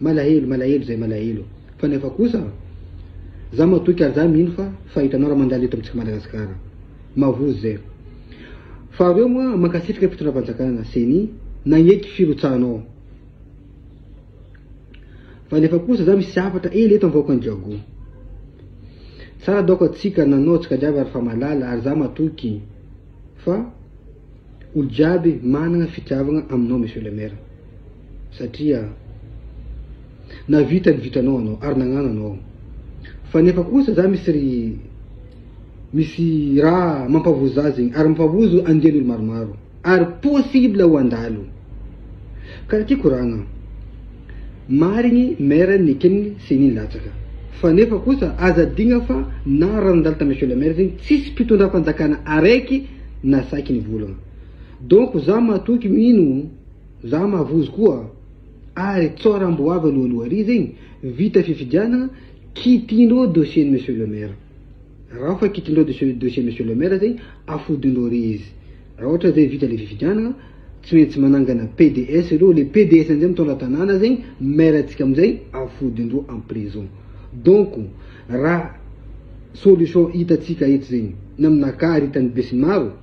Malahelo, malahelo zay malahelo fa nefa kosa za matoky ary za mino fa fahitanao raha mandalo eto amintsika Madagascar. Mavozo zay. Faharo eo moa mankasitraka fitondram-panjakana, ceni, nagneky firotsahanao. Fa nefa kosa za misy hafatra ela eto anvahoakan'i Jago. Tsara daoko atsika nanao tsika jiaby ary fa malala ary za matoky fa olo jiaby managna fitiavagna aminao monsieur le maire. Satria navita ny vitanao anao ary nagnano anao aho. Fa nefa kosa za misy ry misy raha mampavozo za zegny ary mampavozo andian'olo maromaro ary possible ho andalo. Ka raha ty koragna, marigny maire neken'ny ceni latsaka fa nefa kosa aza adigna fa na raha nandalo tamin'ny monsieur le maire zegny tsisy mpitondram-panjakana araiky nasaky nivolagna. Donc za matoky mino. Za mahavozo koa ary tsora mbo avy alohan'ny ho ariva igny vita fifidianagna kitindreo dossier ny monsieur le maire ra ofa kitindreo dossier monsieur le maire zegny afodindreo re izy ra ohatra zay vita le fifidianagna tsy maintsy manangana PDS reo le PDS amizay mitondra tanàna zegny maire tsika amizay afodindreo en prison donc ra solution hitatsika eto zegny na aminakahy ry hitan'ny besinimaro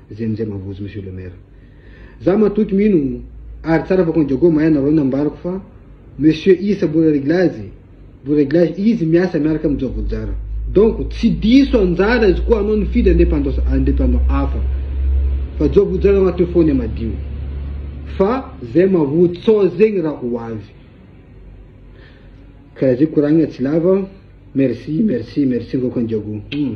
Zay amizay mavozo monsieur le maire. Za matoky mino ary tsara fa kondiago mahay nareo nambarako fa monsieur isa mbola reglazy mbola reglazy izy miasa miaraka am jogo jara donc tsy diso anjara izy koa anao nifidy independance independant hafa fa jogo jara agnaty fone madio fa zay mavotso zegny raha ho avy karaha zay koragna tsy lava merci merci merci ngao kondiago hmm.